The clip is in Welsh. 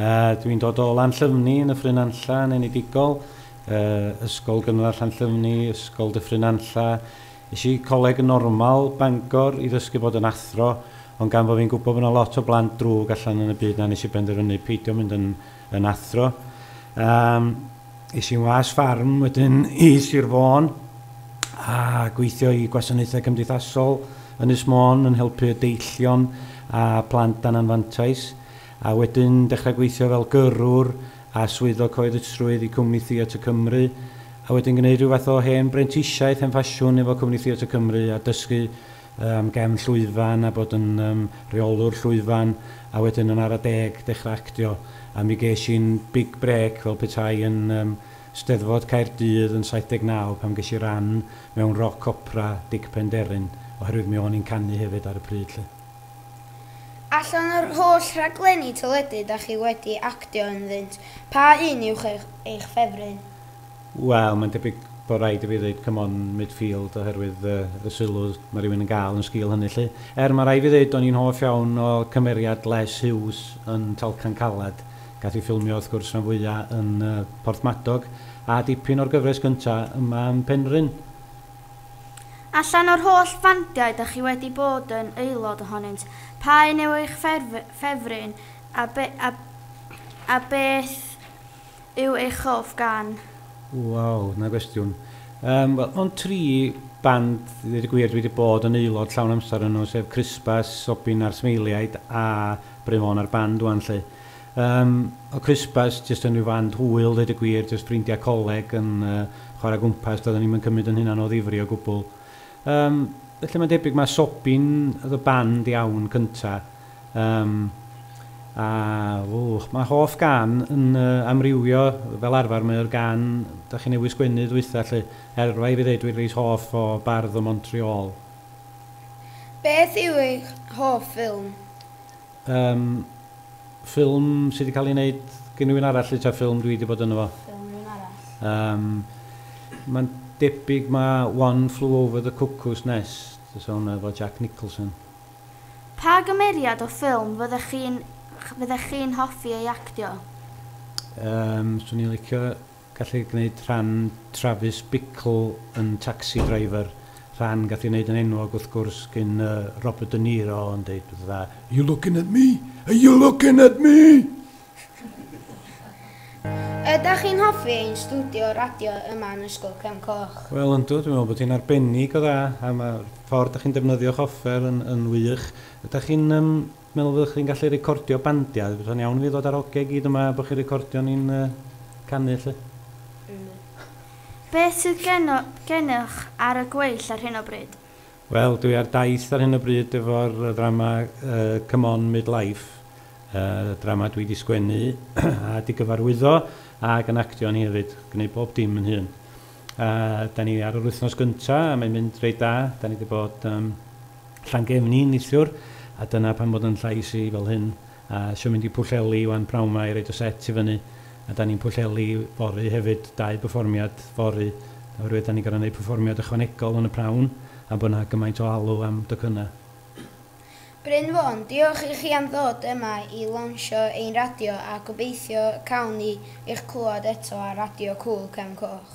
Yy, dwi'n dod o Lanllyfni yn Nyffryn Nantlla yn enedigol. Yy, ysgol gynradd Llanllyfni, ysgol Dyffryn Nantlla. Es i coleg normal Bangor i ddysgu bod yn athro, ond gan fo fi'n gwbo bo 'na lot o blant drwg allan yn y byd 'na nes i benderfynu peidio mynd yn yn athro. Yym, es i'n was ffarm wedyn i Sir Fôn a gweithio i gwasanaethau cymdeithasol Ynys Môn yn helpu y deillion a plant dan anfantais. a wedyn dechrau gweithio fel gyrrwr a swyddog cyhoeddusrwydd i Cwmni Theatr Cymru, a wedyn gwneud rhyw fath o hen brentisiaeth, hen ffasiwn efo Cwmni Theatr Cymru a dysgu am gefn llwyfan a bod yn yym rheolwr llwyfan, a wedyn yn ara deg dechrau actio, a mi ges i'n big break fel petai yn yym Steddfod Caerdydd yn 79 pan ges i ran mewn roc opera Dic Penderyn, oherwydd mi o'n i'n canu hefyd ar y pryd 'lly. Allan o'r holl rhaglenni teledu da chi wedi actio ynddynt, pa un yw eich ffefryn? Wel, mae'n debyg bod rhaid i fi ddeud Come On Midfield oherwydd y sylw mae rhywun yn gael yn sgil hynny 'lly. Er, mae rhaid fi ddeud o'n i'n hoff iawn o cymeriad Les Hughes yn Talcan Caled. Gath i ffilmio wrth gwrs rhan fwya' yn Porthmadog a dipyn o'r gyfres gynta' yma yn Penrhyn. Allan o'r holl fandiau dach chi wedi bod yn aelod ohonynt, pa un yw eich ffefryn a be, a, a beth yw eich hoff gan? Waw, 'na gwestiwn. Yym, wel, mond tri band, ddeud y gwir, dwi wedi bod yn aelod llawn amser yno, sef Christbas, Sobin a'r Smeiliaid, a Bryn Fôn a'r band ŵan 'lly. Yym, o Christmas, jyst yn rhyw fand hwyl, ddeud y gwir, jyst ffrindiau coleg yn chwarae gwmpas, doedden ni'm yn cymryd yn hunan o ddifri o gwbl. Yym, felly mae'n debyg mae Sobin oedd y band iawn cynta. Yym, a, wch, mae hoff gân yn amrywio, fel arfer mae o'r gân da chi newydd sgwennu ddwytha lly, er rhaid fi ddeud dwi'n reit hoff o Bardd o Montreal. Beth yw eich hoff ffilm? Yym, ffilm sy 'di cael ei wneud gen rywun arall 'lly ta ffilm dwi 'di bod ynddo fo? Ffilm rhywun arall. Yym, mae'n debyg ma' One Flew Over the Cuckoo's Nest, fysa hwnna efo Jack Nicholson. Pa gymeriad o ffilm fyddech chi'n fyddech chi'n hoffi ei actio? Yym, 'swn i'n licio Gath ei gwneud rhan Travis Bickle yn Taxi Driver, rhan gath ei wneud yn enwog wrth gwrs gin Robert De Niro yn deud pethau dda, Are you looking at me? Are you looking at me? Ydach chi'n hoffi ein stwdio radio yma yn Ysgol Cefn Coch? Wel yndw, dwi'n meddwl bod hi'n arbennig o dda a mae'r ffordd dach chi'n defnyddio'ch offer yn, yn wych. Ydach chi'n yym, Meddwl fyddwch chi'n gallu recordio bandiau? Fysa'n iawn i fi ddod a'r oge i gyd yma bo chi'n recordio ni'n canu 'lly. Ynni. Beth sydd gennoch ar y gweill ar hyn o bryd? Wel, dwi ar daith ar hyn o bryd efo'r ddrama Come On Midlife, drama dwi 'di sgwennu a 'di gyfarwyddo ac yn actio yn hi hefyd, gneud bob dim yn hun. A da ni ar yr wythnos gynta, a mae'n mynd reit da. Da ni wedi bod um, Llangefni nithiwr, a dyna pan bod yn llais i fel hyn. A sio mynd i Pwllheli wan prawn ma i roed y set i fyny. A da ni'n Pwllheli fory hefyd, dau byfformiad fory. Oherwydd da ni gorau gwneud perfformiad ychwanegol yn y prawn, am bod yna gymaint o alw am docynnau. Bryn Fôn, diolch i chi am ddod yma i lawnsio ein radio a gobeithio y cawn ni eich clywed eto ar Radio Cŵyl Cefn Coch.